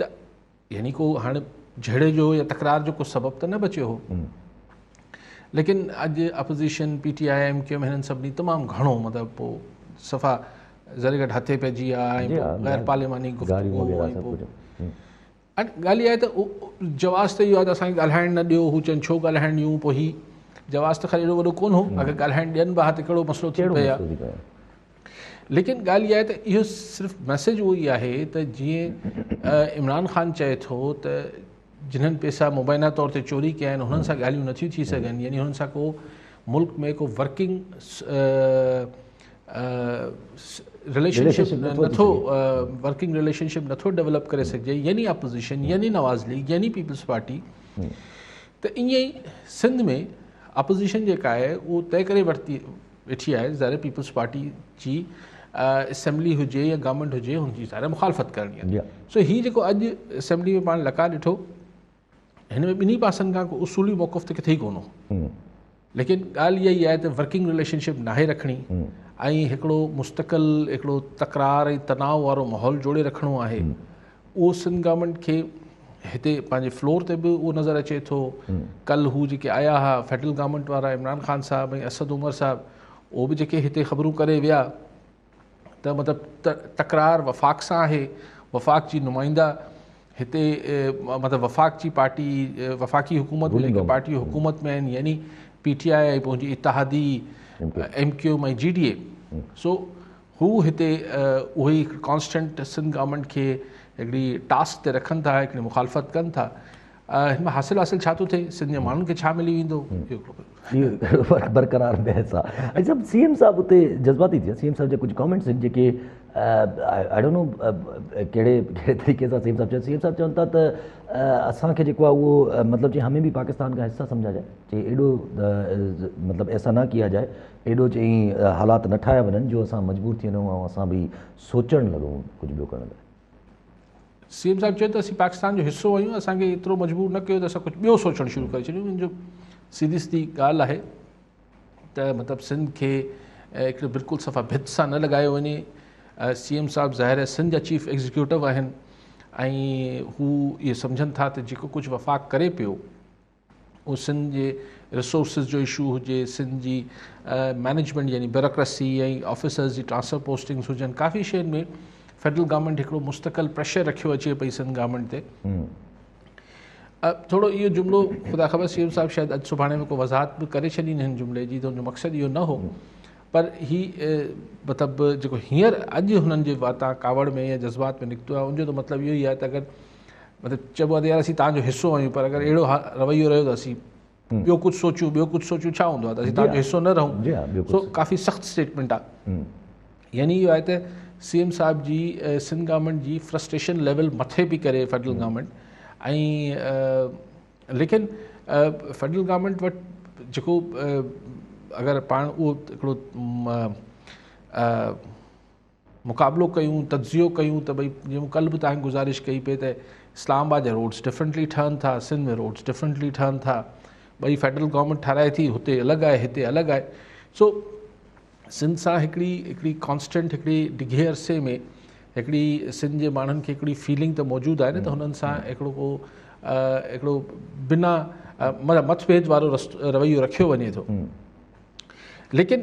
ته يعني ڪو هاڻي جهيڙي جو يا تڪرار جو ڪو سبب ته نه بچيو هو ليڪن اڄ opposition P T I M Q هنن سڀني تمام گهڻو مطلب پو صفا ذري گهٽ هٿي پئجي ويا جي ها، غير پارلياماني گفتگو ڳالهه آهي ته جواز ته اهو آهي ته اسان کي ڳالهائڻ نه ڏيو هو چون ڇو ڳالهائڻ ڏيون پوء هي جواز ته خير اهڙو وڏو ڪون هو اگر ڳالهائڻ ڏين به ها ته ڪهڙو مسئلو ٿي پئي ها ليڪن ڳالهه اها آهي ته اهو صرف ميسيج اهو ئي آهي ته جيئن عمران خان چئي ٿو ته جنهن پيسا مبينا طور تي چوري ڪيا آهن انهن سان ڳالهيون نٿيون ٿي سگهن يعني انهن سان ڪو ملڪ ۾ ڪو ورڪنگ رليشن شپ نٿو ورڪنگ رليشن شپ نٿو ڊيولپ ڪري سگهجي يعني اپوزيشن يعني نواز ليگ يعني پيپلز پارٽي ته ائين سنڌ ۾ اپوزيشن جيڪا آهي اهو طئي ڪري ورتي ويٺي آهي ظاهر پيپلز پارٽي جي اسيمبلي هجي يا گورنمينٽ هجي هن جي ظاهر مخالفت ڪرڻي آهي سو هي جيڪو اڄ اسيمبلي ۾ پاڻ لقا ڏٺو هن ۾ ٻنهي پاسن کان ڪو اصولي موقف ته ڪٿي ئي ڪون هو ليڪن ڳالهه اها ئي آهي ته ورڪنگ رليشن شپ ناهي رکڻي ۽ هڪڙو مستقل هڪڙو تڪرار ۽ تناؤ وارو ماحول جوڙي رکڻو آهي اهو سنڌ گورنمينٽ کي هتي پنهنجي فلور تي به اهو نظر اچي ٿو ڪل هو جيڪي آيا ها فيڊرل گورنمينٽ وارا عمران خان صاحب ۽ اسد عمر صاحب اهو به جيڪي هتي خبرون ڪري ويا ته مطلب تڪرار وفاق سان آهي وفاق جي نمائندا هتي مطلب وفاق جي پارٽي وفاقي حڪومت ۾ جيڪي پارٽي حڪومت ۾ آهن يعني پي ٽي آء پنهنجي اتحادي M Q M ۽ G D A سو هو هتي اهو ئي ڪانسٽنٽ سنڌ گورنمينٽ کي هڪڙي ٽاسڪ تي رکن ٿا هڪڙي مخالفت ڪن ٿا هن ۾ حاصل حاصل ڇا ٿو ٿئي سنڌ جي ماڻهن کي ڇا ملي ويندو برقرار بحث آهي سب سي ايم صاحب اتي جذباتي ٿيا سي ايم صاحب جا ڪجهه ڪامنٽس آهن جيڪي آئي ڊونٽ نو ڪهڙي ڪهڙي طريقي سان سی ايم صاحب چيو سی ايم صاحب چون ٿا ته اسانکي جيڪو آهي اهو مطلب جي همي به پاڪستان کا حصا سمجھا جائے چي ايڏو مطلب ايسا نه ڪيا جائے ايڏو چئي حالات نه ٺاهيا وڃن جو اسان مجبور ٿي وڃون ۽ اسان به سوچڻ لڳون ڪجهه ٻيو ڪرڻ لاء. سي ايم صاحب چيو ته اسين پاڪستان جو حصو آهيون اسان کي ايترو مجبور نه ڪيو ته اسان ڪجهه ٻيو سوچڻ شروع ڪري ڇڏيون ان جو سيڌي سيڌي ڳالهه آهي ته مطلب سنڌ کي هڪڙي بلڪل صفا ڀت سان نه لڳايو وڃي سي ايم صاحب ظاهر آهي سنڌ جا چيف ايگزيڪيوٽو آهن ۽ هو اهي سمجهن ٿا ته جيڪو ڪجهه وفاق ڪري پيو اهو سنڌ جي رسورسز جو اشو هجي، سنڌ جي مينيجمينٽ يعني بيوروڪريسي ۽ آفيسرز جي ٽرانسفر پوسٽنگز هجن، ڪافي شين ۾ فيڊرل گورنمينٽ هڪڙو مستقل پريشر رکيو اچي پئي سنڌ گورنمينٽ تي. ٿورو اهو جملو خدا خبر سيم صاحب شايد اڄ سڀاڻي ۾ ڪو وضاحت به ڪري ڇڏين هن جملي جي ته ان جو مقصد اهو نه هو پر هي مطلب جيڪو هينئر اڄ هنن جي واتان ڪاوڙ ۾ يا جذبات ۾ نڪتو آهي ان جو ته مطلب اهو ئي آهي ته اگر مطلب چئبو آهي ته يار اسين توهان جو حصو آهيون پر اگر اهڙو رويو رهيو ته اسين ٻيو ڪجهه سوچيون ٻيو ڪجهه سوچيون ڇا هوندو آهي ته اسين توهان جو حصو نه رهون سو ڪافي سخت اسٽيٽمنٽ آهي يعني اهو آهي ته سی ايم صاحب جي سنڌ گورنمنٽ جي فرسٽريشن ليول مٿي پئي ڪري فيڊرل گورنمنٽ ۽ ليڪن فيڊرل گورنمنٽ وٽ جيڪو اگر پاڻ اهو هڪڙو مقابلو ڪيون، تجزيو ڪيون ته ڀئي جيئن مون ڪلهه به توهان کي گذارش ڪئي پئي ته اسلام آباد جا روڊس ڊفرنٽلي ٺهن ٿا، سنڌ ۾ روڊس ڊفرنٽلي ٺهن ٿا، ٻئي فيڊرل گورنمينٽ ٺهرائي ٿي، هتي الڳ آهي، هتي الڳ آهي. سو سنڌ سان هڪڙي هڪڙي ڪانسٽنٽ هڪڙي ڊگهي عرصي ۾ هڪڙي سنڌ جي ماڻهن کي هڪڙي فيلنگ ته موجود آهي نه ته هنن سان هڪڙو ڪو هڪڙو بنا مطلب مت ڀيد وارو رويو رکيو وڃي ٿو. ليڪن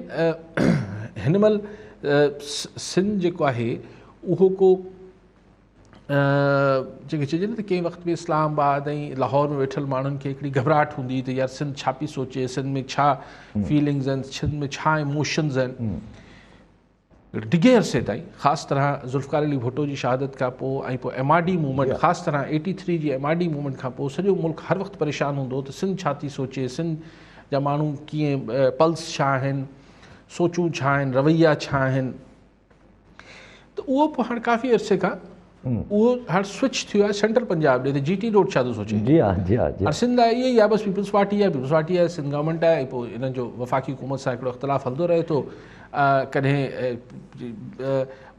هن مهل سنڌ جيڪو آهي اهو ڪو جيڪي چئجي نه ته ڪنهن وقت ۾ اسلام آباد ۽ لاهور ۾ ويٺل ماڻهن کي هڪڙي گهبراهٽ هوندي هئي ته يار سنڌ ڇا پي سوچي سنڌ ۾ ڇا فيلنگز آهن سنڌ ۾ ڇا اموشنز آهن ڊگهي عرصي تائين خاص طرح ذوالفقار علي ڀٽو جي شهادت کان پوء ۽ پوء ايم آر ڊي موومينٽ خاص طرح ايٽي ٿري جي ايم آر ڊي موومينٽ کان پوء سڄو ملڪ هر وقت پريشان هوندو هو ته سنڌ ڇا ٿي سوچي سنڌ جا ماڻهو ڪيئن پلس ڇا آهن سوچون ڇا آهن رويا ڇا آهن ته اهو پوء هاڻ ڪافي عرصي کان اهو هاڻ سوئچ ٿيو آهي سينٽرل پنجاب ڏي ته جي ٽي روڊ ڇا ٿو سوچي جي ها جي ها جي ها سنڌ آهي اهي يا بس پيپلز پارٽي آهي پيپلز پارٽي آهي سنڌ گورنمنٽ آهي پوء انهن جو وفاقي حڪومت سان هڪڙو اختلاف هلندو رهي ٿو ڪڏهن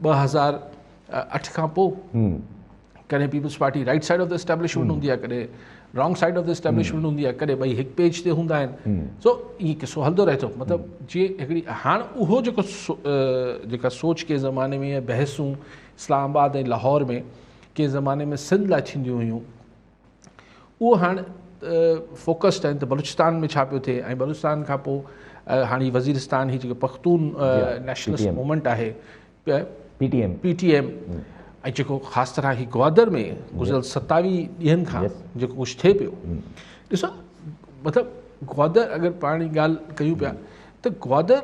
ٻه هزار اٺ کان پوء ڪڏهن peoples party right side of the establishment هوندي آهي ڪڏهن wrong side of the establishment هوندي آهي ڪڏهن ٻئي هڪ پيج تي هوندا آهن سو اي قصو هلندو رهي ٿو مطلب جي هڪڙي هاڻ اهو جيڪو جيڪا سوچ ڪي زماني ۾ بحثون اسلام آباد ۽ لاهور ۾ ڪنهن زماني ۾ سنڌ لاء ٿينديون هيون اهو هاڻ فوڪسڊ آهن ته بلوچستان ۾ ڇا پيو ٿئي ۽ بلوچستان کان پوء هاڻي وزيرستان هي جيڪو پختون نيشنلسٽ موومينٽ آهي P T M P T M ۽ جيڪو خاص طرح هي گوادر ۾ گذريل ستاويهه ڏينهن کان جيڪو ڪجهه ٿئي پيو ڏسو مطلب گوادر اگر پاڻ ڳالهه ڪيون پيا ته گوادر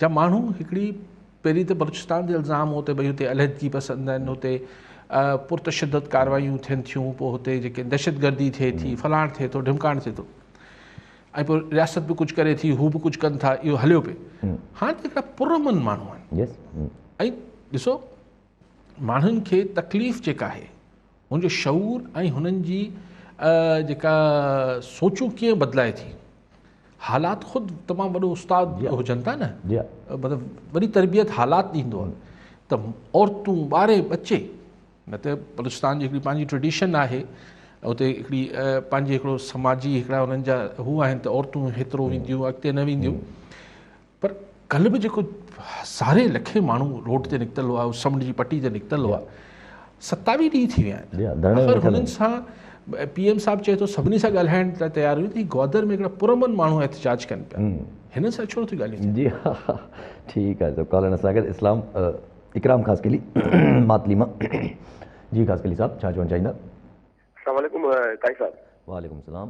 جا ماڻهو هڪڙي پهرين ته بلوچستان تي الزام هو ته ڀئي هتي علحدگي پسند آهن هتي پرتشدد ڪاروايون ٿين ٿيون پوء هتي جيڪي دهشتگردي ٿئي ٿي فلاڻ ٿئي ٿو ڍمڪاڻ ٿئي ٿو ۽ پوء رياست به ڪجهه ڪري ٿي هو به ڪجهه ڪن ٿا اهو هليو پئي هاڻي ته هڪڙا پرامن ماڻهو آهن ۽ ڏسو ماڻهن کي تڪليف جيڪا آهي ان جو شعور ۽ هنن جي جيڪا سوچون ڪيئن بدلائي ٿي حالات خود تمام وڏو استاد جي هجن ٿا نه جي مطلب وڏي تربيت حالات ڏيندو آهي ته عورتون ٻاري ٻچي نه ته بلوچستان جي هڪڙي پنهنجي ٽريڊيشن آهي اتي هڪڙي پنهنجي هڪڙو سماجي هڪڙا انهن جا هو آهن ته عورتون هيترو وينديون اڳتي نه وينديون پر ڪلهه به جيڪو هزارين لکين ماڻهو روڊ تي نڪتل هئا، سمنڊ جي پٽي تي نڪتل هئا، ستاويهه ڏينهن ٿي ويا آهن، آخر هنن سان پي ايم صاحب چئي ٿو سڀني سان ڳالهائڻ لاء تيار هيو ته هي گوادر ۾ هڪڙا پرامن ماڻهو احتجاج ڪن پيا، هنن سان ڇو نه ٿيون ڳالهيون ٿين. جي ها ها ٺيڪ آهي ڪالن اسان گڏ اسلام اڪرام خاصخيلي ماتلي مان جي خاصخيلي صاحب ڇا چوڻ چاهيندا. السلام عليڪم ڪائي صاحب. وعليڪم السلام.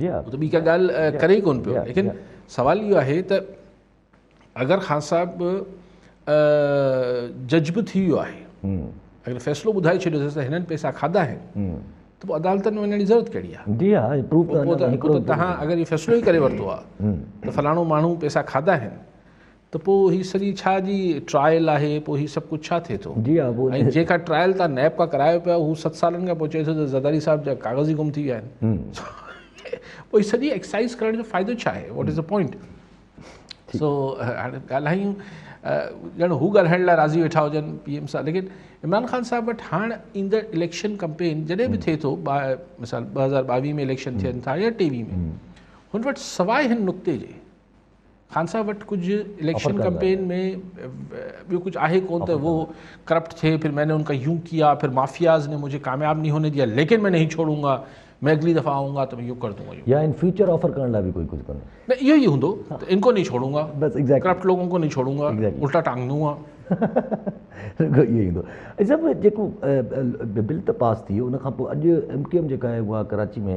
هو ته ٻي ڪا ڳالهه ڪري ئي ڪونه پيو ليڪن سوال اهو آهي ته اگر خان صاحب جج به ٿي ويو آهي اگر فيصلو ٻڌائي ڇڏيو اٿس ته هنن پئسا کاڌا آهن ته پوء عدالتن ۾ وڃڻ جي ضرورت ڪهڙي آهي جي ها پروف ته تهان اگر هي فيصلو ئي ڪري ورتو آهي ته فلاڻو ماڻهو پئسا کاڌا آهن ته پوء هي سڄي ڇا جي ٽرائل آهي پوء هي سڀ ڪجهه ڇا ٿئي ٿو جي ها پوء ۽ جيڪا ٽرائل تان نيب کا ڪرايو پيا هو ست سالن کان پوء چئي ٿو ته زرداري صاحب جا ڪاغذ ئي گم ٿي ويا آهن پوء هي سڄي ايڪسائز ڪرڻ جو فائدو ڇا آهي واٽ از ا پوائنٽ سو هاڻي ڳالهايون ڄڻ هو ڳالهائڻ لاء راضي ويٺا هجن پي ايم صاحب ليڪن عمران خان صاحب وٽ هاڻ ايندڙ اليڪشن ڪمپين جڏهن به ٿئي ٿو مثال ٻه هزار ٻاويهه ۾ اليڪشن ٿين ٿا يا ٽيويهه ۾ هن وٽ سواء هن نقطي جي خان صاحب وٽ ڪجھ اليڪشن ڪمپين ۾ ٻيو ڪجھ آهي ڪو ته هو ڪرپٽ ٿي پھر مين ان کا يون ڪيا پھر مافياز ۾ مجھي ڪامياب ني هوني ديا ليڪن مين نهي ڇوڙون گا مين اگلي دفعه آئون گا ته مين يو ڪردون گا يا ان فيوچر آفر ڪرڻ لاء به ڪوئي ڪجھ ڪوني نه اهو ئي هوندو ته ان کو نهي ڇوڙون گا بس اگزيڪٽلي ڪرپٽ لوگون کو نهي ڇوڙون گا الٽا ٽانگ دون گا اهو ئي هوندو اهي سڀ جيڪو بل ته پاس ٿي ويو ان کان پوء اڄ ايم ڪيو ايم جيڪا آهي اها ڪراچي ۾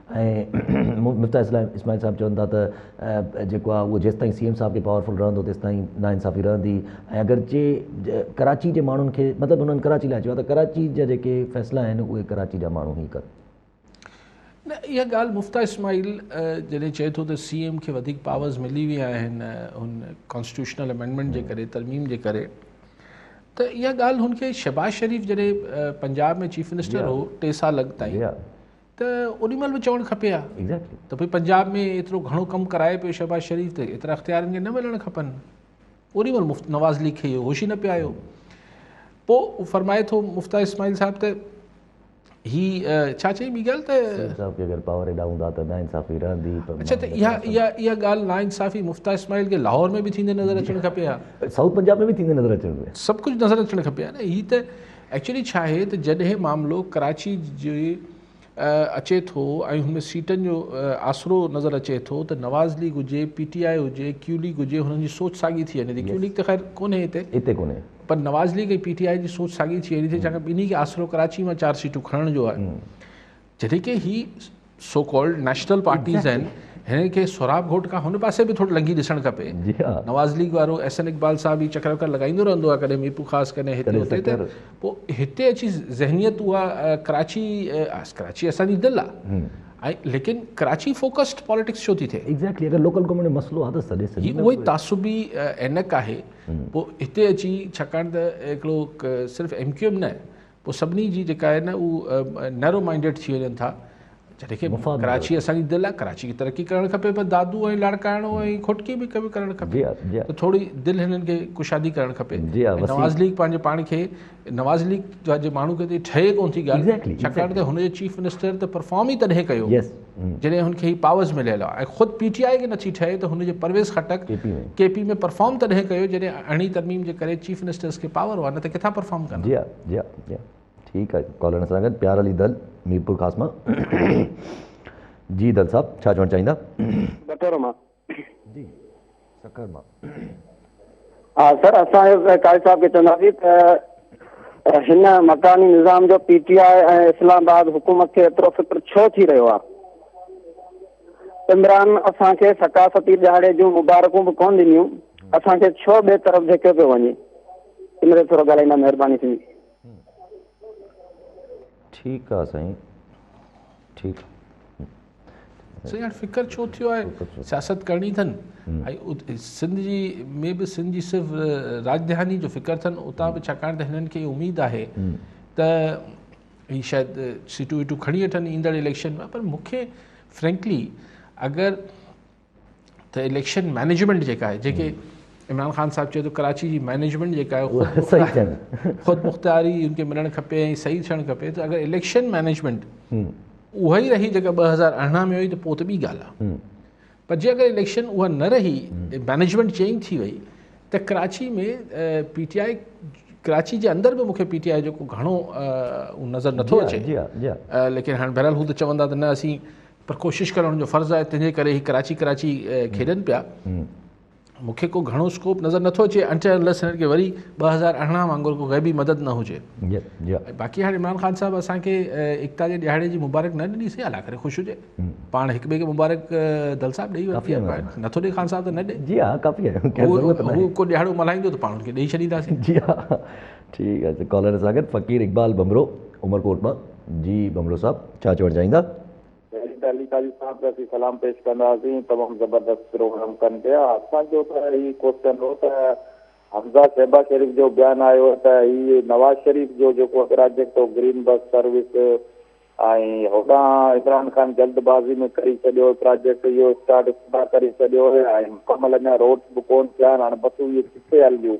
۽ مفتاح اسماعيل صاحب چون ٿا ته جيڪو آهي اهو جيستائين سي ايم صاحب کي پاورفل رهندو تيستائين ناانصافي رهندي ۽ اگرچه ڪراچي جي ماڻهن کي مطلب هنن ڪراچي لاء چيو آهي ته ڪراچي جا جيڪي فيصلا آهن اهي ڪراچي جا ماڻهو هي ڪن. نه اها ڳالهه مفتاح اسماعيل جڏهن چئي ٿو ته سي ايم کي وڌيڪ پاورز ملي ويا آهن هن ڪانسٽيٽيوشنل امينڊمينٽ جي ڪري ترميم جي ڪري ته اها ڳالهه هن کي شهباز شريف جڏهن پنجاب ۾ چيف منسٽر هو ٽي سال اڳ تائين ته اڏي مھل به چوڻ کپي ھا ته ڀئي پنجاب ۾ ايترو گھڻو ڪم ڪرائي پيو شھباز شريف ته ايترا اختيار ھن کي نه ملڻ کپن اڏي مھل مفت نواز ليگ کي اھو ھوش ئي نه پيو آيو پوء فرمائي ٿو مفتاح اسماعيل صاحب ته ھي ڇا چئي ٻي ڳالھ ته سيد صاحب کي اگر پاور ايڏا ھوندا ته ناانصافي رھندي پر اڇا ته اھا اھا اھا ڳالھ ناانصافي مفتاح اسماعيل کي لاھور ۾ به ٿيندي نظر اچڻ کپي ھا سائوٿ پنجاب ۾ به ٿيندي نظر اچڻ کپي سڀ ڪجھ نظر اچڻ کپي ھا نه ھي ته ايڪچولي ڇا آهي ته جڏهن معاملو ڪراچي جي اچي ٿو ۽ هن ۾ سيٽن جو آسرو نظر اچي ٿو ته نواز ليگ هجي، پي ٽي آء هجي، ڪيو ليگ هجي هنن جي سوچ ساڳي ٿي وڃي ٿي. ڪيو ليگ ته خير ڪونهي هتي. هتي ڪونهي. پر Nawaz league ۽ P T I جي سوچ ساڳي ٿي وڃي ٿي ڇاڪاڻ ٻنهي کي آسرو ڪراچي مان چار سيٽون کڻڻ جو آهي. جڏهن ڪي هي سو ڪالڊ نيشنل پارٽيز آهن هنن کي سهراب گهوٽ کان هن پاسي به ٿورو لنگهي ڏسڻ کپي نواز ليگ وارو احسن اقبال صاحب هي چڪر وڪر لڳائيندو رهندو آهي ڪڏهن ميرپور خاص ڪڏهن هتي هتي ته پوء هتي اچي ذهنيت اها ڪراچي ڪراچي اسان جي دل آهي ۽ ليڪن ڪراچي فوڪسڊ پاليٽڪس ڇو ٿي ٿئي ايگزيڪٽلي اگر لوڪل گورنمينٽ مسئلو آهي ته سڏي سڄي اهو ئي تعصبي عينڪ آهي پوء هتي اچي ڇاڪاڻ ته هڪڙو صرف ايم ڪيو ايم نه پوء سڀني جي جيڪا آهي نه اهو نيرو مائنڊيڊ ٿي وڃن ٿا جڏهن کي ڪراچي اسان جي دل آهي ڪراچي کي ترقي ڪرڻ کپي پر دادو ۽ لاڙڪاڻو ۽ کوٽڪي به ڪرڻ کپي ته ٿوري دل هنن کي ڪشادي ڪرڻ کپي نواز ليگ پنهنجي پاڻ کي نواز ليگ جا جي ماڻهو کي ٺهي ڪون ٿي ڳالهه ڇاڪاڻ ته هن جو چيف منسٽر ته پرفارم ئي تڏهن ڪيو جڏهن هن کي هي پاورز مليل آ ۽ خود پي ٽي آء کي نٿي ٺهي ته هن جي Pervez Khattak K P ۾ perform تڏهن ڪيو جڏهن اهڙي ترميم جي ڪري چيف منسٽرز کي پاور هئا نه ته ڪٿان پرفارم ڪندا. جي آء جي آء جي آء ٺيڪ آهي ڪالر اسان سان گڏ پيار علي دل ميرپور خاص مان جي دل صاحب ڇا چوڻ چاهيندا. ٻٽور مان جي سکر مان ها سر اسان قائد صاحب کي چونداسين ته هن مڪاني نظام جو پي ٽي آء ۽ اسلام آباد حڪومت کي ايترو فڪر ڇو ٿي رهيو آهي عمران اسان کي ثقافتي ڏهاڙي جون مبارڪون به ڪون ڏنيون اسان کي ڇو ٻئي طرف ڌڪيو پيو وڃي ان تي ٿورو ڳالهائيندا مهرباني ٿيندي ٺيڪ آهي سائين ٺيڪ سائين هاڻي فڪر ڇو ٿيو آهي سياست ڪرڻي اٿن ۽ سنڌ جي ۾ به سنڌ جي صرف راجڌاني جو فڪر اٿن اتان به ڇاڪاڻ ته هنن کي اميد آهي ته هي شايد سيٽون ويٽون کڻي وٺن ايندڙ اليڪشن ۾ پر مونکي فرينڪلي اگر ته اليڪشن مينيجمينٽ جيڪا آهي جيڪي عمران خان صاحب چيو ته ڪراچي جي مينيجمينٽ جيڪا آهي صحيح خود مختاري ان کي ملڻ کپي ۽ صحيح ٿيڻ کپي ته اگر اليڪشن مينيجمينٽ اها ئي رهي جيڪا ٻه هزار ارڙهن ۾ هئي ته پوء ته ٻي ڳالهه آهي پر جي اگر اليڪشن اها نه رهي مينيجمينٽ چينج ٿي وئي ته Karachi ۾ P T I Karachi جي اندر به مونکي پي ٽي آء جو گهڻو نظر نٿو اچي ليڪن هاڻي بهرحال هو ته چوندا ته نه اسين پر ڪوشش ڪرڻ هن جو فرض آهي تنهنجي ڪري هي ڪراچي ڪراچي کيڏن پيا مون کي ڪو گهڻو اسڪوپ نظر نٿو اچي انٽل انلس هنن کي وري ٻه هزار ارڙهن وانگر ڪو غيبي مدد نه هجي باقي هاڻي عمران خان صاحب اسان کي ايڪتا جي ڏهاڙي جي مبارڪ نه ڏني سي الله ڪري خوش هجي پاڻ هڪ ٻئي کي مبارڪ دل صاحب ڏيئي ورتي آهي نٿو ڏي خان صاحب ته نه ڏي جي ها ڪافي آهي هو ڪو ڏهاڙو ملهائيندو ته پاڻ هن کي ڏيئي ڇڏينداسين جي ها ٺيڪ آهي ڪالر سان گڏ فقير اقبال ڀمرو عمرڪوٽ مان جي ڀمرو صاحب ڇا چوڻ چاهيندا؟ ايڊيٽر علي قاضي صاحب کي اسين سلام پيش ڪنداسين تمام زبردست پروگرام ڪن پيا اسان جو ته هي ڪوسچن هو ته حمزه شهباز شريف جو بيان آيو ته هي نواز شريف جو جيڪو پراجيڪٽ هو گرين بس سروس ۽ هوڏانهن عمران خان جلد بازي ۾ ڪري ڇڏيو پراجيڪٽ اهو اسٽارٽ ابتدا ڪري ڇڏيو ۽ مڪمل اڃا روڊس به ڪون ٿيا آهن هاڻ بسون اهي ڪٿي هلنديون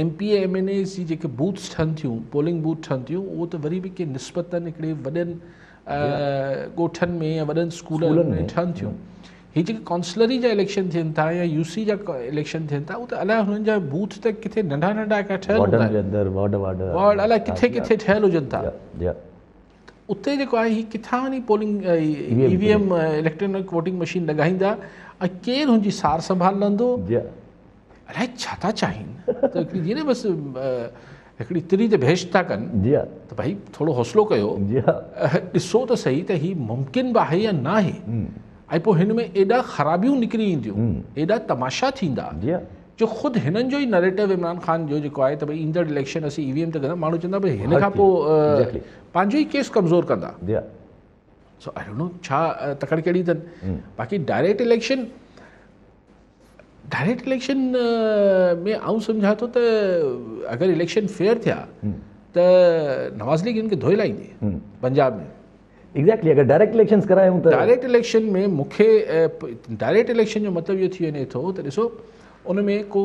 M P A M N As جي جيڪي بوٿس ٺھن ٿيون پولنگ بوٿ ٺھن ٿيون اھو ته وري به ڪي نسبتا ھڪڙي وڏن ڳوٺن ۾ يا وڏن اسڪولن ۾ ٺھن ٿيون ھي جيڪي ڪانسلري جا اليڪشن ٿين ٿا يا يو سي جا اليڪشن ٿين ٿا اهو ته الائي هنن جا بوٿ ته ڪٿي ننڍا ننڍا کا ٺهيل هوندا آهن وارڊ وارڊ وارڊ الائي ڪٿي ڪٿي ٺهيل هجن ٿا اتي جيڪو آهي هي ڪٿان وڃي polling E V M electronic voting machine لڳائيندا ۽ ڪير هن جي سار سنڀال لهندو الائي ڇا ٿا چاهين جي نه بس هڪڙي تري تي بحث ٿا ڪن جي ها ته ڀائي ٿورو حوصلو ڪيو جي ها ڏسو ته صحيح ته هي ممڪن به آهي يا نه آهي ۽ پوء هن ۾ ايڏا خرابيون نڪري اينديون ايڏا تماشا ٿيندا جي ها جو خود هنن جو ئي نريٽو عمران خان جو جيڪو آهي ته ڀائی ايندڙ اليڪشن اسين اي وي ايم ته ڪندا ماڻهو چوندا ڀائی هن کان پوء پنهنجو ئي ڪيس ڪمزور ڪندا جي ها سو آئي ڊونٽ نو ڇا تڪڙ ڪهڙي اٿن باقي ڊائريڪٽ اليڪشن ڊائريڪٽ اليڪشن ۾ آئون سمجهان ٿو ته اگر اليڪشن فيئر ٿيا ته نواز ليگ ان کي ڌوئي لائيندي پنجاب ۾ ايگزيڪٽلي اگر ڊائريڪٽ اليڪشنز ڪرايون ته ڊائريڪٽ اليڪشن ۾ مونکي ڊائريڪٽ اليڪشن جو مطلب اهو ٿي وڃي ٿو ته ڏسو ان ۾ ڪو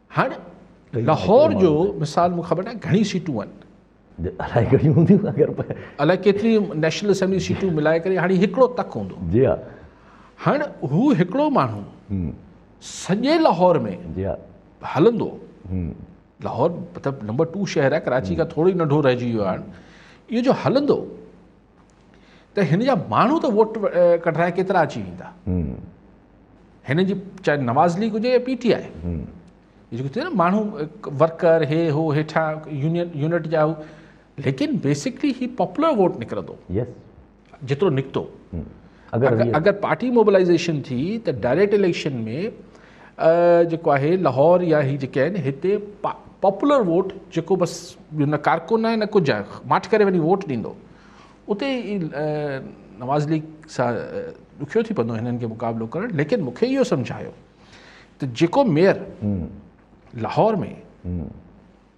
هاڻ لاهور جو مثال مون خبر ناهي گهڻي سيٽون آهن. الائي گهڻيون هونديون اگر الائي ڪيتري نيشنل اسيمبلي سيٽون ملائي ڪري هاڻي هڪڙو تڪ هوندو جي ها هاڻ هو هڪڙو ماڻهو سڄي لاهور ۾ جي ها هلندو لاهور مطلب نمبر 2 شهر آهي ڪراچي کان ٿورو ئي ننڍو رهجي ويو آهي اهو جو هلندو ته هن جا ماڻهو ته ووٽ ڪڍرائي ڪيترا اچي ويندا هن جي چاهي نواز ليگ هجي يا پي ٽي آئي جيڪو ٿيو نا ماڻهو ورڪر هي هو هيٺان يونين يونٽ جا هو ليڪن بيسڪلي هي پاپولر ووٽ نڪرندو جيترو نڪتو اگر پارٽي موبلائيزيشن ٿي ته ڊائريڪٽ اليڪشن ۾ جيڪو آهي لاهور يا هي جيڪي آهن هتي پاپولر ووٽ جيڪو بس نه ڪارڪن آهي نه ڪجهه آهي ماٺ ڪري وڃي ووٽ ڏيندو اتي نواز ليگ سان ڏکيو ٿي پوندو هنن کي مقابلو ڪرڻ ليڪن مونکي اهو سمجهايو ته جيڪو ميئر لاهور ۾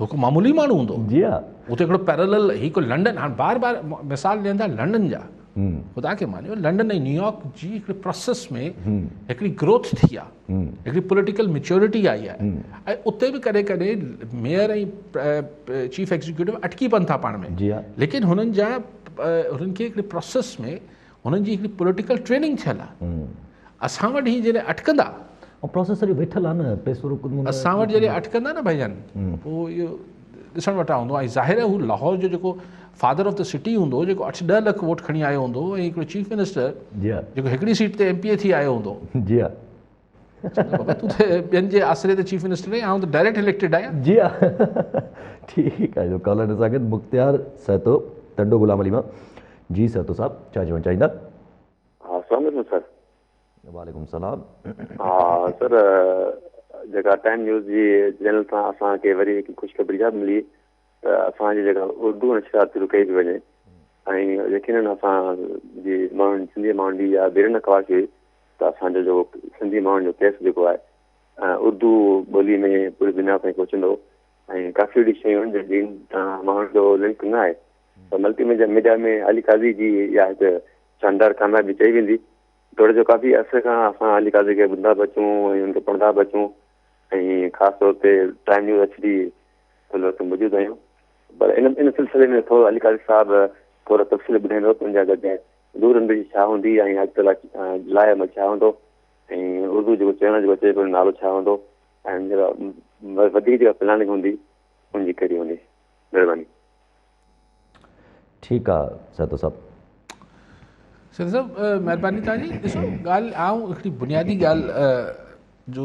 هڪ معمولي ماڻهو هوندو جي ها هو ته هڪڙو پيرلل هڪ لنڊن هاڻ بار بار مثال ڏين ٿا لنڊن جا خدا کي مانيو لنڊن ۽ نيويارڪ جي هڪڙي پروسيس ۾ هڪڙي گروٿ ٿي آهي هڪڙي پوليٽيڪل ميچورٽي آئي آهي ۽ اتي به ڪڏهن ڪڏهن ميئر ۽ چيف ايگزيڪيوٽو اٽڪي پون ٿا پاڻ ۾ جي ها ليڪن هنن جا هنن کي هڪڙي پروسيس ۾ هنن جي هڪڙي پوليٽيڪل ٽريننگ ٿيل آ اسان وٽ هي جڏهن اٽڪندا ۽ پروسيس سڄي ويٺل آ نه پيسو رڪندو اسان وٽ جڏهن اٽڪندا نه ڀئي جان پو اهو ڏسڻ وٽان هوندو ۽ ظاهر آ هو لاهور جو جيڪو فادر آف د سٽي هوندو جيڪو اٺ ڏهه لک ووٽ کڻي آيو هوندو ۽ هڪڙو چيف منسٽر جيڪو هڪڙي سيٽ تي ايم پي اي ٿي آيو هوندو جي چيو ته بابا تون ته ٻين جي آسري تي چيف منسٽر آهين، آئون ته ڊائريڪٽ اليڪٽيڊ آهيان. جي ها ٺيڪ آهي جو ڪالر نه ساڳيت مختيار سهتو ٽنڊو غلام علي مان جي سهتو صاحب ڇا چوڻ چاهيندا. ها السلام عليڪم سر. وعليڪم السلام. ها سر جيڪا ٽائيم نيوز جي چينل تان اسان کي وري هڪ خوشخبري اها به ملي ته اسان جي جيڪا اردو نشريات شروع ڪئي پئي وڃي ۽ يقينن اسان جي ماڻهن سنڌي ماڻهن جي اها بيرن خواهش هئي ته اسان جو جيڪو سنڌي ماڻهن جو ڪيس جيڪو آهي اردو ٻولي ۾ پوري دنيا تائين پهچندو ۽ ڪافي اهڙي شيون جن جن ماڻهن جو لنڪ نه آهي ته multimedia media ۾ Ali Qazi جي اها هڪ شاندار ڪاميابي چئي ويندي توڙي جو ڪافي عرصي کان اسان علي قاضي کي ٻڌندا به اچون ۽ ان کي پڙهندا به اچون ۽ خاص طور تي پرائم نيوز ايڇ ڊي ان وقت موجود آهيون پر ان ان سلسلي ۾ ٿورو علي قاري صاحب ٿورا تفصيل ٻڌائيندو ته ان جا گڏ نور انبي جي ڇا هوندي ۽ اڄ ڪلهه لاء عمل ڇا هوندو ۽ اردو جيڪو چينل جيڪو اچي پيو نالو ڇا هوندو ۽ وڌيڪ جيڪا پلاننگ هوندي ان جي ڪهڙي هوندي مهرباني. ٺيڪ آ سهتو صاحب. سهتو صاحب مهرباني توهان جي ڏسو ڳالهه آئون هڪڙي بنيادي ڳالهه جو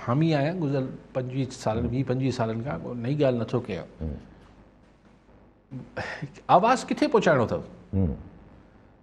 حامي آهيان گذريل پنجويهه سالن ويهه پنجويهه سالن کان ڪو نئي ڳالهه نٿو ڪيان آواز ڪٿي پهچائڻو اٿو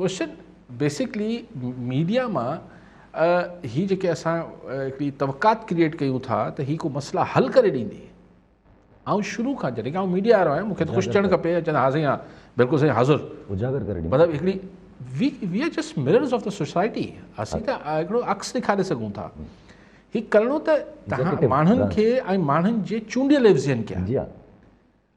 ڪوشچن بيسڪلي ميڊيا مان هي جيڪي اسان هڪڙي توقعات ڪريئيٽ ڪيون ٿا ته هي ڪو مسئلا حل ڪري ڏيندي آئون شروع کان جڏهن آئون ميڊيا وارو آهيان مون کي ڪوشچن چئڻ کپي چئن ها سائين ها بلڪل سائين حاضر اجاگر ڪري مطلب هڪڙي we we are just mirrors of ته سوسائٽي اسين ته هڪڙو عڪس ڏيکاري سگهون ٿا هي ڪرڻو ته ماڻهن کي ۽ ماڻهن جي چونڊيل ايفزين کي جي ها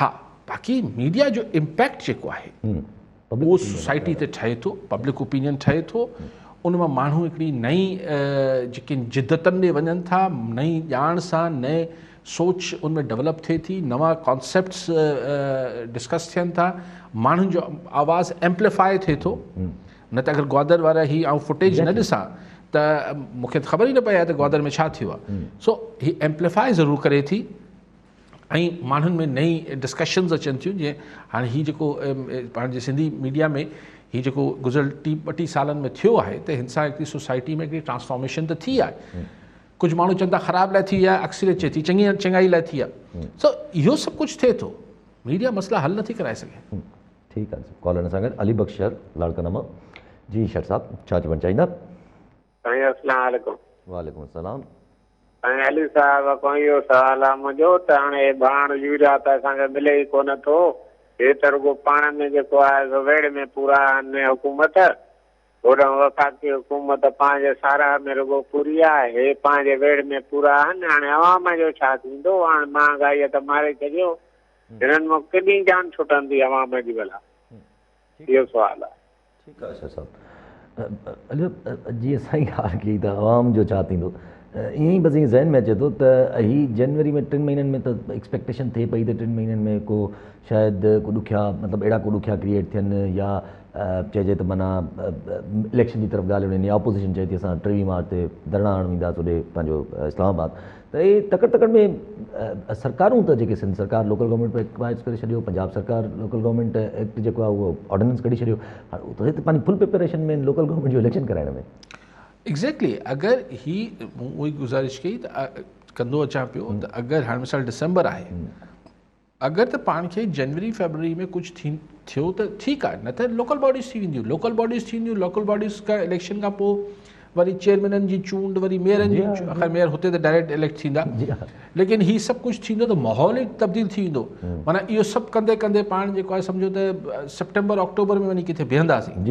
ها باقي ميڊيا جو امپيڪٽ جيڪو آهي اهو سوسائٽي تي ٺهي ٿو پبلڪ اوپينين ٺهي ٿو ان مان ماڻهو هڪڙي نئين جيڪي جدتن ڏي وڃن ٿا نئين ڄاڻ سان نئين سوچ ان ۾ ڊيولپ ٿئي ٿي نوان ڪانسيپٽس ڊسڪس ٿين ٿا ماڻهن جو آواز ايمپليفائي ٿئي ٿو نه ته اگر گوادر وارا هي آئون فوٽيج نه ڏسان ته مونکي خبر ئي نه پئي آهي ته گوادر ۾ ڇا ٿيو آهي سو هي ايمپليفائي ضرور ڪري ٿي ۽ ماڻهن ۾ نئين ڊسڪشنز اچن ٿيون جيئن هاڻي هي جيڪو پاڻ جي سنڌي ميڊيا ۾ هي جيڪو گذريل ٽي ٻه ٽي سالن ۾ ٿيو آهي ته هن سان هڪڙي سوسائٽي ۾ هڪڙي ٽرانسفارميشن ته ٿي آهي ڪجهه ماڻهو چون ٿا خراب لاء ٿي آهي اڪثريت چئي ٿي چڱي چڱائي لاء ٿي آهي سو اهو سڀ ڪجهه ٿئي ٿو ميڊيا مسئلا حل نٿي ڪرائي سگهي ٺيڪ آهي ڪالر سان گڏ علي بخش شهر لاڙڪانا مان جي شيخ صاحب ڇا چوڻ چاهيندا سائين اسلام عليڪم. وعليڪم السلام. سائين علي صاحب اڳون اهو سوال آ منهنجو ته هاڻي هي ڀاڻ يوريا ته اسان کي ملي ئي ڪونه ٿو هي ته رڳو پاڻ ۾ جيڪو آهي سو ويڙهه ۾ پورا آهن نه حڪومت هوڏانهن وفاقي حڪومت پنهنجي ساراهه ۾ رڳو پوري آ هي پنهنجي ويڙهه ۾ پورا آهن هاڻي عوام جو ڇا ٿيندو هاڻ مهانگائي ته ماري ڇڏيو هنن مان ڪيڏي جان ڇٽندي عوام جي ڀلا اهو سوال آ. ٺيڪ آهي شاهه صاحب. اليو، جيئن سائين ڳالهه ڪئي ته عوام جو ڇا ٿيندو؟ ائين ئي بس ائين ذهن ۾ اچي ٿو ته هي جنوري ۾ ٽن مهينن ۾ ته ايڪسپيڪٽيشن ٿئي پئي ته ٽن مهينن ۾ ڪو شايد ڪو ڏکيا مطلب اهڙا ڪو ڏکيا ڪريئيٽ ٿين يا چئجي ته معنيٰ اليڪشن جي طرف ڳالهيون وڃن يا اپوزيشن چئي ٿي اسان ٽيويهه مارچ تي ڌرڻا هڻڻ وينداسين هوڏي پنهنجو اسلام آباد ته اهي تڪڙ تڪڙ ۾ سرڪارون ته جيڪي سنڌ سرڪار لوڪل گورنمينٽ ايڪٽ پاس ڪري ڇڏيو پنجاب سرڪار لوڪل گورنمينٽ ايڪٽ جيڪو آهي اهو آرڊيننس ڪڍي ڇڏيو هاڻي هت پنهنجي فل پريپريشن ۾ لوڪل گورنمينٽ جو اليڪشن ڪرائڻ ۾ ايگزيڪٽلي اگر هي مون اهي گزارش ڪئي ته ڪندو اچان پيو ته اگر هاڻي مثال ڊسمبر آهي اگر ته پاڻ کي جنوري فيبروري ۾ ڪجهه ٿي ٿيو ته ٺيڪ آهي نه ته لوڪل باڊيز ٿي وينديون لوڪل باڊيز ٿي وينديون لوڪل باڊيز کان اليڪشن کان پوء وري چيئرمينن جي چونڊ وري ميئرن جي آخر ميئر هتي ته ڊائريڪٽ اليڪٽ ٿيندا ليڪن هي سڀ ڪجهه ٿيندو ته ماحول ئي تبديل ٿي ويندو مانا اهو سڀ ڪندي ڪندي پاڻ جيڪو آهي سمجھو ته سيپٽمبر آڪٽوبر ۾ وڃي ڪٿي بيهنداسين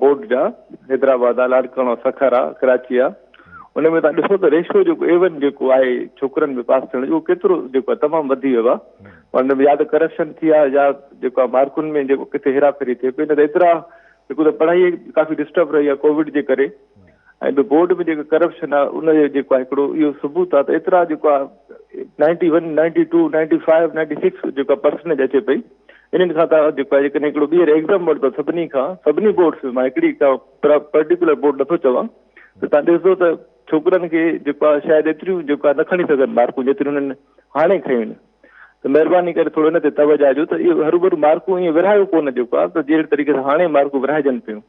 بورڊ جا حيدرآباد آ لاڙڪاڻو سکر آ ڪراچي آ ان ۾ تان ڏسو ته ريشو جيڪو ايون جيڪو آهي ڇوڪرن ۾ پاس ٿيڻ جو ڪيترو جيڪو آهي تمام وڌي ويو آهي ان ۾ يا ته ڪرپشن ٿي آهي يا جيڪو آهي مارڪن ۾ جيڪو ڪٿي هيرا ڦيري ٿي پئي نه ته ايترا جيڪو ته پڙهائي ڪافي ڊسٽرب رهي آهي ڪووڊ جي ڪري ۽ ٻيو بورڊ ۾ جيڪو ڪرپشن آهي ان جو جيڪو آهي هڪڙو اهو ثبوت آهي ته ايترا جيڪو آهي ninety one ninety two ninety five ninety six جيڪا پرسنٽيج اچي پئي انهن کان تان جيڪو آهي جيڪڏهن هڪڙو ٻيهر ايگزام ورتو سڀني کان سڀني بورڊس مان هڪڙي کا پرٽيڪولر بورڊ نٿو چوان ته تان ڏسندو ته ڇوڪرن کي جيڪو آهي شايد ايتريون جيڪو آهي نه کڻي سگهن مارڪون جيتريون هنن هاڻي کيون آهن ته مهرباني ڪري ٿورو ان تي توجه ڏيو ته اهي هروڀرو مارڪون ائين ورهايو ڪونه جيڪو آهي ته جهڙي طريقي سان هاڻي مارڪون ورهائجن پيون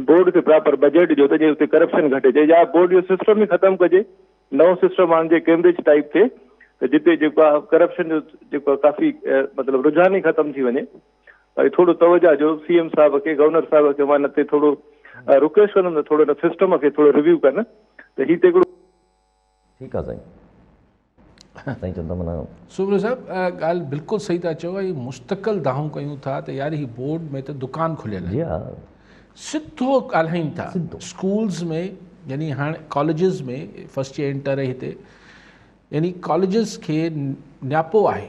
بورڊ کي پراپر بجيٽ ڏيو ته جي اتي ڪرپشن گهٽي جي يا بورڊ جو سسٽم ئي ختم ڪجي نئون سسٽم آڻجي ڪيمبرج ٽائيپ ٿئي ته جتي جيڪو آ ڪرپشن جو جيڪو آ ڪافي مطلب رجحان ئي ختم ٿي وڃي ۽ ٿورو توجه جو سي ايم صاحب کي گورنر صاحب کي مان نتي ٿورو رڪويسٽ ڪندم ته ٿورو سسٽم کي ٿورو ريويو ڪن ته هي ته هڪڙو ٺيڪ آ سائين سائين چون ٿا منا. سومرو صاحب ڳالهه بلڪل صحيح ٿا چئو ۽ مستقل دانهون ڪيون ٿا ته يار هي بورڊ ۾ ته دڪان کليل آهن جي ها سڌو ڳالهائين ٿا سڌو اسڪولز ۾ يعني هاڻ ڪاليجز ۾ فرسٽ يير انٽر هتي يعني ڪاليجز کي نياپو آهي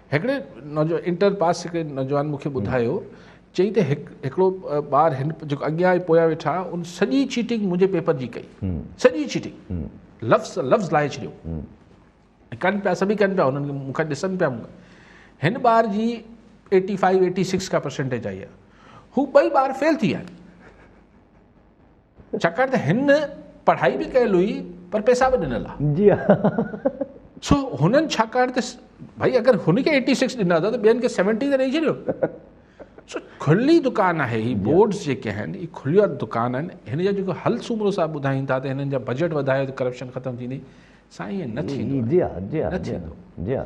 هڪڙي نوجوان انٽر پاس هڪڙي نوجوان مون کي ٻڌايو چئي ته هڪڙو ٻار هن جيڪو اڳيان ۽ پويان ويٺا ان سڄي چيٽنگ منهنجي پيپر جي ڪئي سڄي چيٽنگ لفظ لفظ لاهي ڇڏيو ڪن پيا سڀ ڪن پيا هنن کي مون کي ڏسن پيا هن ٻار جي ايٽي فائيو ايٽي سڪس کا پرسنٽيج آئي آهي هو ٻئي ٻار فيل ٿي ويا آهن ڇاڪاڻ ته هن پڙهائي به ڪيل هئي پر پيسا به ڏنل آ جي ها سو هنن ڇاڪاڻ ته ڀائي اگر هن کي ايٽي سڪس ڏنا اٿا ته ٻين کي سيونٽي ته ڏئي ڇڏيو سو کلي دڪان آهي هي بورڊز جيڪي آهن هي کليا دڪان آهن هن جا جيڪو حل سومرو صاحب ٻڌائين ٿا ته هنن جا بجيٽ وڌايو ته ڪرپشن ختم ٿيندي سائين ائين نه ٿيندو جي ها جي ها نه ٿيندو جي ها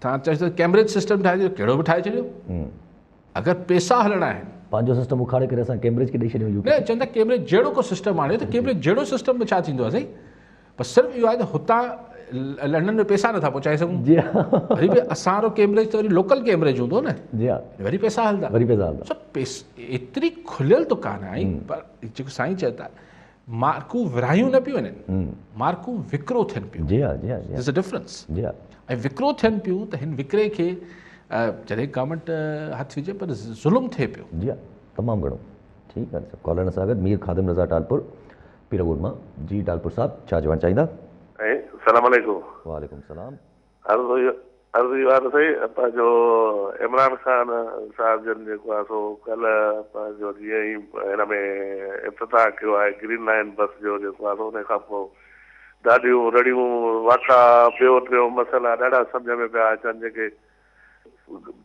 تان چئي ٿو ڪيمبرج سسٽم ٺاهي ڏيو ڪهڙو به ٺاهي ڇڏيو اگر پيسا هلڻا آهن پنهنجو سسٽم اکاڙي ڪري اسان ڪيمبرج کي ڏيئي ڇڏيون يو نه چوندا ڪيمبرج جهڙو کو سسٽم آڻي ته ڪيمبرج جهڙو سسٽم به ڇا ٿيندو اسين پر صرف اهو آهي ته هتان لنڊن ۾ پيسا نٿا پهچائي سگهون جي وري به اسان رو ڪيمبرج ته وري لوڪل ڪيمبرج هوندو نه جي وري پيسا هلدا وري پيسا هلدا سڀ ايتري کليل دڪان آهي پر جيڪو سائين چئي ٿا مارڪون ورهايون نه پيون وڃن مارڪون وڪرو ٿين پيون جي ها جي ها ديز ا ڊفرنس جي ها ۽ وڪرو ٿين پيون ته هن وڪري کي جڏهن گورنمنٽ هٿ وجهي پر ظلم ٿئي پيو جي ها تمام گهڻو ٺيڪ آهي سر ڪالر سان گڏ مير خادم رضا ٽالپور پيرگوڊ مان جي ٽالپور صاحب ڇا چوڻ چاهيندا سلام عليڪم وعليڪم سلام عرض اهو عرض اهو آهي ته سائين پنهنجو عمران خان صاحب جن جيڪو آهي سو ڪلهه پنهنجو جيئن ئي هن ۾ افتتاح ڪيو آهي گرين لائين بس جو جيڪو آهي سو ان کان پوء ڏاڍيون رڙيون واڪا ٻيو ٽيون مسئلا ڏاڍا سمجهه ۾ پيا اچن جيڪي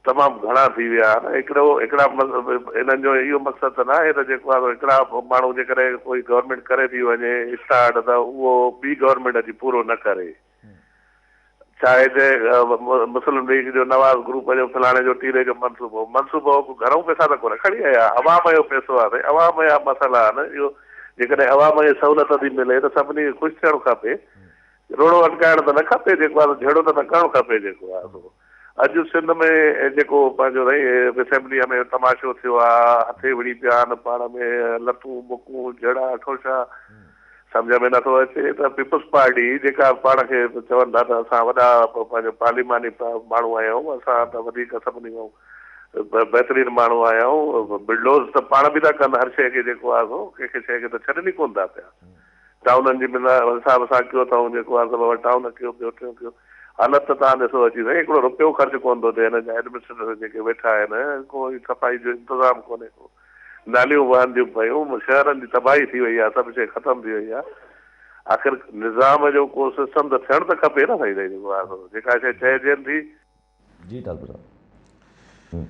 تمام گهڻا ٿي ويا آهن هڪڙو هڪڙا انهن جو اهو مقصد ته ناهي ته جيڪو آهي هڪڙا ماڻهو جيڪڏهن ڪوئي گورنمينٽ ڪري ٿي وڃي اسٽارٽ ته اهو ٻي گورنمينٽ اچي پورو نه ڪري ڇا هتي مسلم ليگ جو نواز گروپ جو فلاڻي جو ٽيلي جو منصوبو منصوبو گهرئون پئسا ته ڪونه کڻي آيا عوام جو پئسو آهي سائين عوام جا مسئلا آهن اهو جيڪڏهن عوام کي سهولت ٿي ملي ته سڀني کي خوش ٿيڻ کپي روڙو اٽڪائڻ ته نه کپي جيڪو آهي سو جهيڙو ته نه ڪرڻ کپي جيڪو آهي سو اڄ سنڌ ۾ جيڪو پنهنجو رئي اسيمبليء ۾ تماشو ٿيو آ، هٿي وڙهي پيا آهن پاڻ ۾ لتون بڪون جهڙا اٺوشا، سمجهه ۾ نٿو اچي ته پيپلز پارٽي جيڪا پاڻ کي چون ٿا ته اسان وڏا پنهنجو پارليماني ماڻهو آهيون، اسان ته وڌيڪ سڀني کان بهترين ماڻهو آهيون، بلڊوز ته پاڻ به ٿا ڪن هر شيء کي جيڪو آ سو ڪنهن کي شيء کي ته ڇڏن ئي ڪونه ٿا پيا. ٽائونن جي بنا حساب سان ڪيو اٿئون جيڪو آ سو بابا ٽائون ڪيو ٻيو ٽيون ڪيو حالت ته تان ڏسو اچي سائين هڪڙو رپيو خرچ ڪون ٿو ٿئي هن جا ايڊمنسٽريٽر جيڪي ويٺا آهن ڪو هي صفائي جو انتظام ڪونهي ڪو ناليون وهنديون پيون شهرن جي تباهي ٿي وئي آ سڀ شئي ختم ٿي وئي آ آخر نظام جو ڪو سسٽم ته ٿيڻ ته کپي نه سائين جيڪو آ سو جيڪا شئي چئجين ٿي جي ڊاڪٽر صاحب.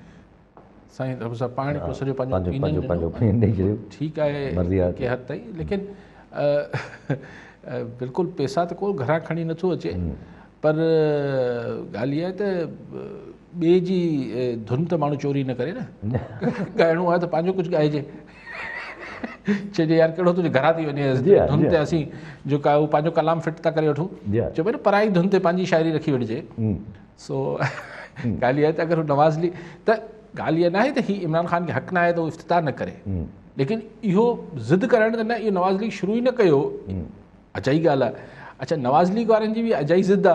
سائين ڊاڪٽر صاحب پاڻ ڪو سڄو پنهنجو اوپينين ڏنو ڏئي ڇڏيو ٺيڪ آهي ڪنهن حد تائين ليڪن بلڪل پيسا ته ڪو گهران کڻي نٿو اچي پر ڳالهه اها آهي ته ٻئي جي ڌن ته ماڻهو چوري نه ڪري نه ڳائڻو آهي ته پنهنجو ڪجهه ڳائجي چئجي يار ڪهڙو تنهنجي گهران ٿي وڃي ڌن تي اسين جيڪو آهي اهو پنهنجو ڪلام فٽ ٿا ڪري وٺون چئبو نه پرائي ڌن تي پنهنجي شاعري رکي وٺجي سو ڳالهه اها آهي ته اگر هو نواز ليگ ته ڳالهه اها ناهي ته هي عمران خان کي حق نه آهي ته هو افتتاح نه ڪري ليڪن اهو ضد ڪرڻ ته نه اهو نواز ليگ شروع ئي نه ڪيو اجائي ڳالهه آهي اڇا نواز ليگ وارن جي به اجائي ضد آ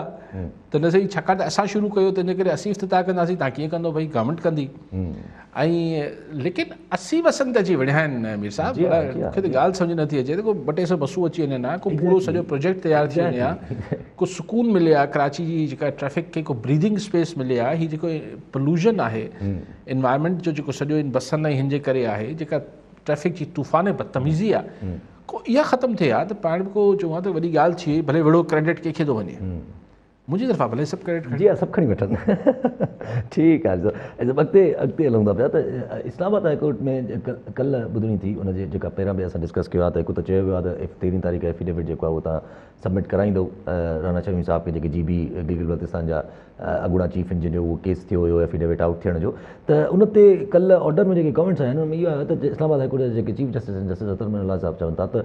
ته نه سهي ڇاڪاڻ ته اسان شروع ڪيو تنهنجي ڪري اسين افتتاح ڪنداسين تان ڪيئن ڪندو ڀئي گورنمينٽ ڪندي ۽ ليڪن اسين وسن ته اچي وڙهيا آهن مير صاحب مون کي ته ڳالهه سمجهه نٿي اچي ته ڪو ٻه ٽي سو بسون اچي وڃن ها ڪو پورو سڄو پروجيڪٽ تيار ٿي وڃي ها ڪو سڪون ملي ها ڪراچي جي جيڪا ٽريفڪ کي ڪو بريدنگ اسپيس ملي ها هي جيڪو پلوشن آهي انوائرمينٽ جو جيڪو سڄو ان بسن ۽ هن جي ڪري آهي جيڪا ٽريفڪ جي طوفان بدتميزي آ ڪو اها ختم ٿئي ها ته پاڻ به ڪو چئون ها ته وڏي ڳالهه ٿئي ڀلي وڙهو ڪريڊٽ ڪنهن کي ٿو وڃي منهنجي طرفان ڀلي سڀ ڪريڊٽ کڻي جي ها سڀ کڻي وٺن ٺيڪ آهي سر اڳتي اڳتي هلون ٿا پيا ته اسلام آباد هاء ڪورٽ ۾ ڪلهه ٻڌڻي ٿي ان جي جيڪا پهريان به اسان ڊسڪس ڪيو آهي ته هڪ ته چيو ويو آهي ته تيرهين تاريخ ايفيڊيوٽ جيڪو آهي اهو تان سبمٽ ڪرائيندو رانا شميم صاحب کي جيڪي جي بي گلگت بلتستان جا اڳوڻا چيف انجنيئر اهو ڪيس ٿيو هيو ايفيڊيوٽ آئوٽ ٿيڻ جو ته ان تي ڪلهه آرڊر ۾ جيڪي ڪمينٽس آيا آهن ان ۾ اهو آيو ته اسلام آباد هاء ڪورٽ جا جيڪي چيف جسٽس آهن جسٽس اطهر من الله صاحب چون ٿا ته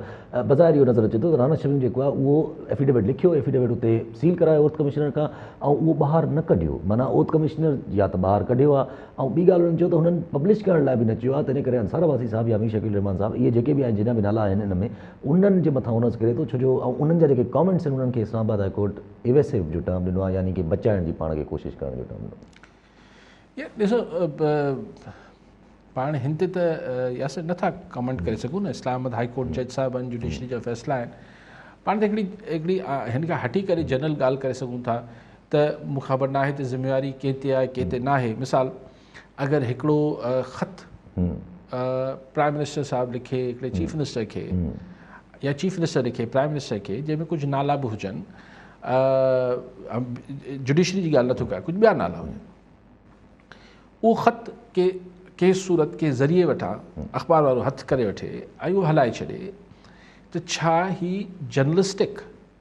بظاهر اهو نظر اچي ٿو ته رانا شريف جيڪو آهي اهو ايفيڊيوٽ لکيو ايفيڊيوٽ اتي سيل ڪرايو اورت ڪمشنر کان ۽ اهو ٻاهر نه ڪڍيو معنيٰ اورت ڪمشنر يا ته ٻاهر ڪڍيو آهي ۽ ٻي ڳالهه انهن چيو ته هنن پبلش ڪرڻ لاء به نه چيو آهي تنهن ڪري انصار عباسي صاحب يا مير شڪيل الرحمان صاحب اهي جيڪي به آهن جيڏا به نالا آهن ان ۾ انهن جي مٿان هو نظ ڪري ٿو ڇو جو انهن جا جيڪي ڪمينٽس آهن انهن کي Islamabad high court Evasive جو ٽرم ڏنو آهي يعني ڪي بچائڻ جي پاڻ کي ڪوشش ڪرڻ جو ٽرم ڏنو. يار ڏسو پاڻ هن تي ته ياسر نٿا ڪمنٽ ڪري سگهون نه اسلام آباد هائي ڪورٽ جج صاحب آهن جوڊيشري جا فيصلا آهن پاڻ ته هڪڙي هڪڙي هن کان هٽي ڪري جنرل ڳالهه ڪري سگهون ٿا ته مون کي خبر ناهي ته ذميواري ڪنهن تي آهي ڪنهن تي ناهي مثال اگر هڪڙو خط پرائم منسٽر صاحب لکي هڪڙي چيف منسٽر کي يا چيف منسٽر لکي پرائم منسٽر کي جنهن ۾ ڪجهه نالا به هجن جوڊيشري جي ڳالهه نٿو ڪيان ڪجهه ٻيا نالا هجن اهو خط ڪي ڪي صورت ڪي ذريعي وٺان اخبار وارو هٿ ڪري وٺي ۽ اهو هلائي ڇڏي ته ڇا هي جرنلسٽڪ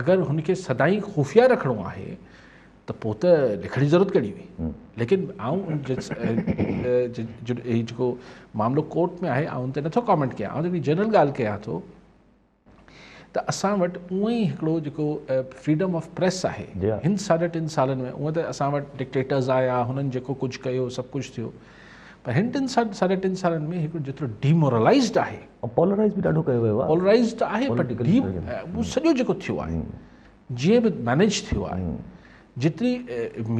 اگر هن کي سدائين خفيه رکڻو آهي ته پوء ته لکڻ جي ضرورت ڪهڙي هئي ليڪن آئون جيڪو معاملو ڪورٽ ۾ آهي آئون تي نٿو ڪامينٽ ڪيان آئون هڪڙي جنرل ڳالهه ڪيان ٿو ته اسان وٽ اونئ ئي هڪڙو جيڪو فريڊم آف پريس آهي جي هن ساڍا ٽن سالن ۾ اونئ ته اسان وٽ ڊڪٽيٽرز آيا هنن جيڪو ڪجهه ڪيو سڀ ڪجهه ٿيو پر هن ٽن سال ساڍي ٽن سالن ۾ هڪڙو جيترو ڊيمورلائزڊ آهي پولرائز به ڏاڍو ڪيو ويو آهي پولرائز ته آهي پر ڊيم سڄو جيڪو ٿيو آهي جيئن به مينيج ٿيو آهي جيتري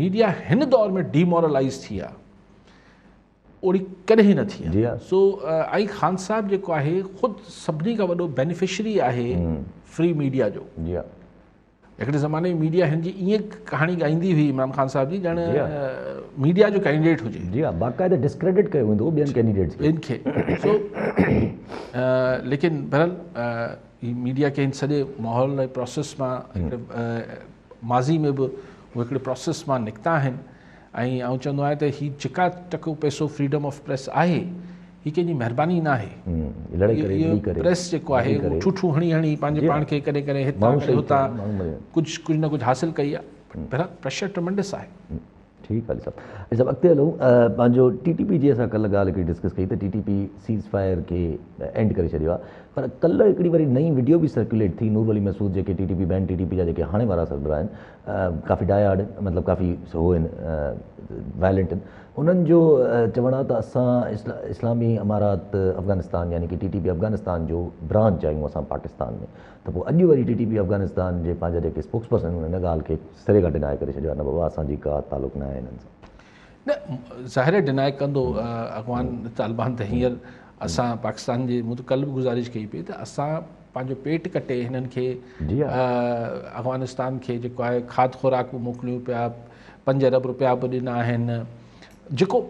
ميڊيا هن دور ۾ ڊيمورلائز ٿي آهي اوڙي ڪڏهن نه ٿي جي سو آئي خان صاحب جيڪو آهي خود سڀني کان وڏو بينيفشري آهي فري ميڊيا جو جي هڪڙي زماني ۾ ميڊيا هن جي ائين ڪهاڻي ڳائيندي هئي عمران خان صاحب جي ڄڻ ميڊيا جو ڪينڊيڊيٽ هجي جي ها باقاعده ڊسڪريڊٽ ڪيو ويندو هو ٻين ڪينڊيڊيٽس کي ٻين کي سو ليڪن بهرحال هي ميڊيا کي هن سڄي ماحول ۽ پروسيس مان ماضي ۾ به هو هڪڙي پروسيس مان نڪتا آهن ۽ آئون چوندو آهيان ته هي جيڪا ٽڪو پئسو فريڊم آف پريس آهي هي ڪنهن جي مهرباني ناهي اهو پريس جيڪو آهي اهو ٺوٺون هڻي هڻي پنهنجي پاڻ کي ڪڏهن ڪڏهن هتان ڪڏهن هتان ڪجهه ڪجهه نه ڪجهه حاصل ڪئي آهي بهرحال پريشر ٽرمنڊس آهي ٺيڪ علي صاحب علي صاحب اڳتي هلون پنهنجو ٽي ٽي پي جي اسان ڪلهه ڳالهه هڪڙي ڊسڪس ڪئي ته T T P ceasefire کي اينڊ ڪري ڇڏيو آهي پر ڪلهه هڪڙي وري نئين وڊيو به سرڪيوليٽ ٿي نور علي مسعود جيڪي T T P ban T T P جا جيڪي هاڻي وارا سربراهه آهن ڪافي ڊاء هارڊ آهن مطلب ڪافي هو آهن وائلينٽ آهن انهن جو چوڻ آهي ته اسان اسلامي امارات افغانستان يعني ڪي ٽي ٽي پي افغانستان جو برانچ آهيون اسان پاڪستان ۾ ته پوء اڄ وري ٽي ٽي پي افغانستان جي پنهنجا جيڪي اسپوڪس پرسن آهن ان ڳالهه کي سري کان ڊناء ڪري ڇڏيو آهي نه بابا اسان جي ڪا تعلق نه آهي انهن سان نه ظاهر آهي ڊناء ڪندو اڳواڻ طالبان ته هينئر اسان پاڪستان جي مون ته ڪلهه به گذارش ڪئي پئي ته اسان پنهنجو پيٽ ڪٽي هنن کي جي ها. افغانستان کي جيڪو آهي کاڌ خوراڪ به موڪليون پيا پنج ارب روپيا به ڏنا آهن جيڪو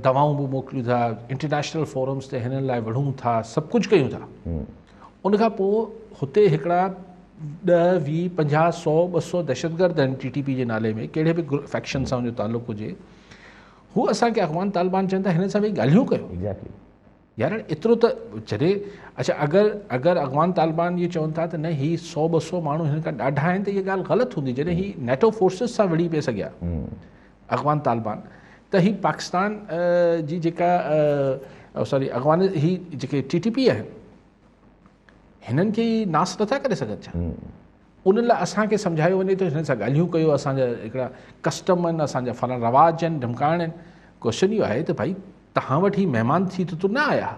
دوائون به موڪليون ٿا انٽرنيشنل فورمز تي هنن لاء وڙهون ٿا سڀ ڪجهه ڪيون ٿا ان کان پوء هتي هڪڙا ڏهه، ويهه، پنجاهه، سؤ، ٻه سؤ دهشتگرد آهن ٽي ٽي پي جي نالي ۾ ڪهڙي به فيڪشن سان ان جو تعلق هجي هو اسان کي افغان طالبان چون ٿا هنن سان ويهي ڳالهيون ڪيو exactly. يار ايترو ته جڏهن اڇا اگر اگر افغان طالبان اهو چون ٿا ته نه هي سو ٻه سو ماڻهو هن کان ڏاڍا آهن ته هي ڳالهه غلط هوندي جڏهن هي نيٽو فورسز سان وڙهي پئي سگهيا اغوان طالبان ته هي پاڪستان جي جيڪا ساري اغوان هي جيڪي ٽي ٽي پي آهن هنن کي ناس نٿا ڪري سگهن ڇا انهن لاء اسانکي سمجهايو وڃي ٿو هنن سان ڳالهيون ڪيو اسانجا هڪڙا ڪسٽم آهن اسانجا فلاڻا رواج آهن ڌمڪائڻ آهن ڪوشچن اهو آهي ته ڀائي توهان وٽ هي مهمان ٿي ته نه آيا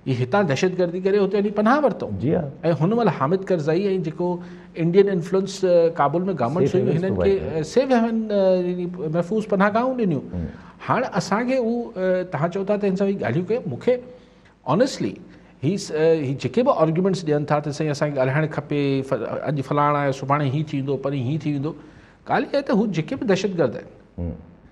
هي هتان دهشتگردي ڪري هتي وڃي پناهه ورتو ۽ هن مهل حامد ڪرزائي ۽ جيڪو انڊين انفلوئنس ڪابل ۾ گورنمنٽ هيون هنن کي سيف هيون يعني محفوظ پناهه گاهون ڏنيون هاڻ اسان کي هو توهان چئو ٿا ته هن سان هي ڳالهيون ڪيون مون کي آنيسٽلي هي هي جيڪي به آرگيومنٹس ڏين ٿا ته سائين اسانکي ڳالهائڻ کپي اڄ فلاڻ آيو سڀاڻي هي ٿيندو پرين هي ٿي ويندو ڳالهه اها آهي ته هو جيڪي به دهشتگرد آهن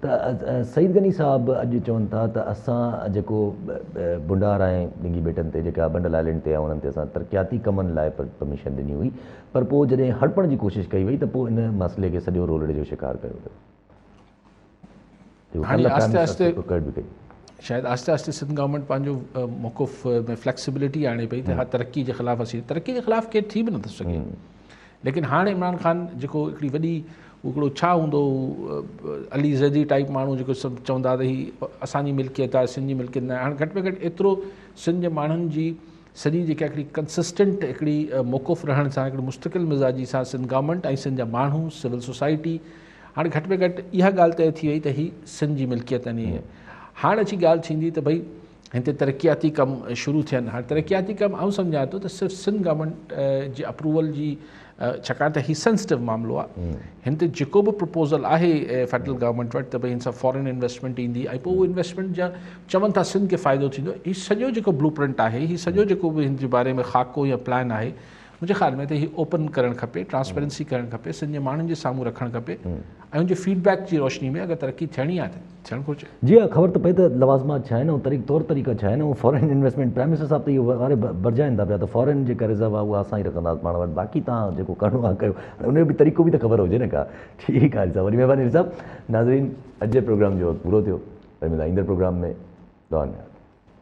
ته سعيد غني صاحب اڄ چون ٿا ته اسان جيڪو بنڊار ۽ ڏنگي ٻيٽن تي جيڪا بنڊل آئلينڊ تي ۽ انهن تي اسان ترقياتي ڪمن لاء پرميشن ڏني هئي پر پوء جڏهن هڙپڻ جي ڪوشش ڪئي وئي ته پوء ان مسئلي کي سڄو رولڙي جو شڪار ڪيو ويو. هاڻي آهستي آهستي شايد آهستي آهستي سنڌ گورنمينٽ پنهنجو موقف ۾ فليڪسبلٽي آڻي پئي ته ها ترقي جي خلاف اسين ترقي جي خلاف ڪير ٿي به نٿو سگهي ليڪن هاڻ عمران خان جيڪو هڪڙي وڏي هڪڙو ڇا هوندو هو علي زيدي ٽائيپ ماڻهو جيڪو سڀ چوندا ته هي اسان جي ملڪيت آهي سنڌ جي ملڪيت ناهي هاڻ گهٽ ۾ گهٽ ايترو سنڌ جي ماڻهن جي سڄي جيڪا هڪڙي ڪنسسٽنٽ هڪڙي موقف رهڻ سان هڪڙي مستقل مزاجي سان سنڌ گورنمنٽ ۽ سنڌ جا ماڻهو سول سوسائٽي هاڻ گهٽ ۾ گهٽ اها ڳالهه طئي ٿي وئي ته هي سنڌ جي ملڪيت آهن هاڻ اچي ڳالهه ٿيندي ته ڀئي هتي ترقياتي ڪم شروع ٿين هاڻي ترقياتي ڪم آئون سمجهان ٿو ته صرف سنڌ گورنمينٽ جي اپروول جي ڇاڪاڻ ته هي سينسٽو معاملو آهي هن تي جيڪو به پرپوزل آهي فيڊرل گورنمينٽ وٽ ته ڀائی هن سان فارن انويسٽمنٽ ايندي ۽ پوء انويسٽمنٽ جا چون ٿا سنڌ کي فائدو ٿيندو هي سڄو جيڪو بلو پرنٽ آهي هي سڄو جيڪو به هن جي باري ۾ خاڪو يا پلان آهي منهنجي خيال ۾ ته هي اوپن ڪرڻ کپي ٽرانسپيرنسي ڪرڻ کپي سنڌ جي ماڻهن جي سامهون رکڻ کپي ۽ ان جي فيڊ بيڪ جي روشني ۾ اگر ترقي ٿيڻي آهي ته ٿيڻ گهرجي. جي ها خبر ته پئي ته لوازمات ڇا آهن ۽ طور طريقا ڇا آهن ۽ فارين انويسٽمينٽ پرائم منسٽر صاحب ته اهو واري ڀرجائين ٿا پيا ته فارين جيڪا رزرو آهي اها اسان ئي رکنداسين پاڻ وٽ باقي توهان جيڪو ڪرڻو آهي ڪيو هاڻي ان جو به طريقو به ته خبر هجي نه ڪا ٺيڪ آهي صاحب وڏي مهرباني علي صاحب ناظرين اڄ جي پروگرام جو وقت پورو ٿيو وري ملان ايندڙ پروگرام ۾ دعائن ۾ ياد